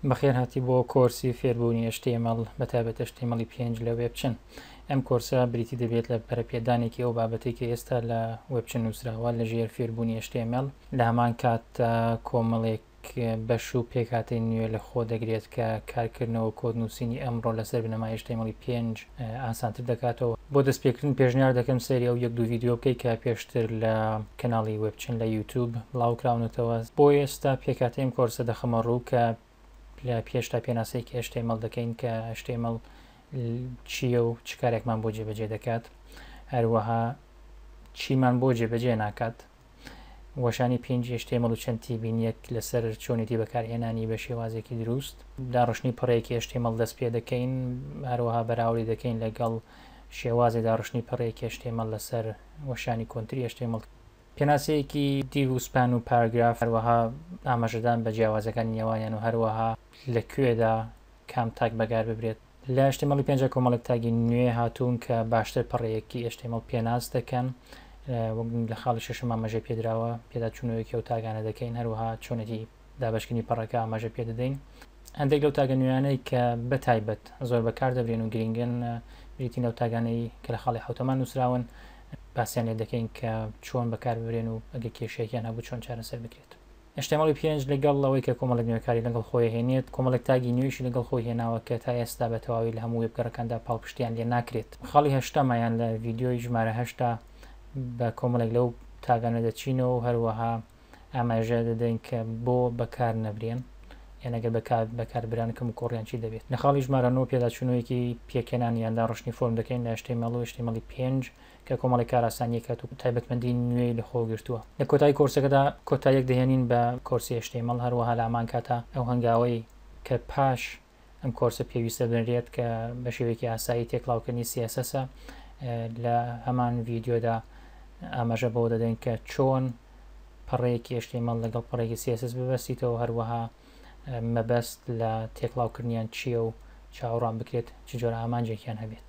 بەخێر هاتی بۆ کۆرسی فێربوونی HTML بە تابێت HTML پێنج لە وێبچن ئەم کۆرسە بریتی دەبێت لە پەرپێدانێکی ئەو بابەتی کە ئێستا لە وێبچن نووسراوە لە ژێر فێربوونی HTML لە هەمان کات کۆمەڵێک بەش و پێکاتی نوێ لە خۆ دەگرێت کە کارکردنەوە کۆدنووسینی ئەمڕۆ لەسەر بنەما HTML پێنج ئاسانتر دەکاتەوە بۆ دەست پێکردن پێشنیار دەکەم سەیری ئەو یەک دوو یددیو بکەیت کە پێشتر لە کەناڵی وبچن لە یوتوب بڵاوکراونەتەوە بۆ ئێستا پێکاتەیم کۆرسە دەخەمە ڕوو کە لە پێشتا پێناسەی کە ئەشتەی مەڵ دەکەین کە ئەشتەی مەڵ چییە و چ کارێکمان بۆ جێبەجێ دەکات هەروەها چیمان بۆ جێبەجێ ناکات وەشانی پێنج HTML و چەند تیبینیەک لەسەر چۆنێتی بەکارهێنانی بە شێوازێکی دروست داڕشتنی پڕێکی HTML دەست پێ دەکەین هەروەها بەراوری دەکەین لەگەڵ شێوازی داڕشتنی پڕێکی HTML لەسەر وەشانی کۆنتری HTML پێناسەیەکی دیو و سپان و پاراگراف هەروەها ئاماژەدان بە جیاوازەکانی نێوانیان و هەروەها لە کوێدا کام تاک بەگار ببرێت. لە HTML ی پێنج کۆمەڵێک تاگی نوێ هاتوون کە باشتر پەڕەیەکی HTML پێناس دەکەن وەک لە خاڵی شەشم ئاماژەی پێدراوە پێدا چوونەوەیەکی ئەو تاگانە دەکەین هەروەها چۆنێتی دابشکردنی پەڕەکە ئاماژە پێ دەدەین هەندێک لەو تاگە نوێیانەی کە بە تایبەت زۆر بەکار دەبرێن و گرنگن بریتی لەو تاگانەی کە لە خاڵی حوتەمان نووسراون باسیان لێ دەکەین کە چۆن بەکار ببرێن و ئەگە کێشێکیان هەبوو چۆن چارەسەر بکرێت html پێنج لەگەڵ ئەوەی کە کۆمەڵێک نوێکاری لەگەڵ خۆی ئەهێنێت، کۆمەڵێک تاگی نوێیشی لەگەڵ خۆی هێناوە کە تا ئێستا بە تەواوی لە هەموو وێبگەڕەکاندا پاڵپشتییان لێ ناکرێت. خاڵی هەشتەمە یان لە ڤیدیۆی ژمارە هەشتا بە کۆمەڵێک لەو تاگانە دەچینەوە و هەروەها ئاماژە دەدەین کە بۆ بەکار نەبرێن یان ئەگەر بەکار بەکار بران کەموکۆڕیان چی دەبێت. لە خاڵی ژمارە نۆ پێداچوونەوەیەکی پێکهێنان یان داڕشتنی فۆرم دەکەین لە html و html پێنج. کە کۆمەڵێک کارئاسانیی کات و تایبەتمەندیی نوێی لەخۆ گرتووە. لە کۆتایی کۆرسەکەدا کۆتاییەک دەهێنین بە کۆرسی HTML، هەروەها لە هەمان کاتە ئەو هەنگاوەی کە پاش ئەم کۆرسە پێویستە بنرێت کە بە شێوەیەکی ئاسایی تێکڵاوکردنی CSS ە، لە هەمان ڤیدیۆدا ئاماژە بەوە دەدەین کە چۆن پەڕەیەکی HTML لەگەڵ پەڕەیەکی CSS ببەستیتەوە، هەروەها مەبەست لە تێکڵاوکردنیان چییە و چاوەڕوان بکرێت چ جۆرە ئامانجێکیان هەبێت.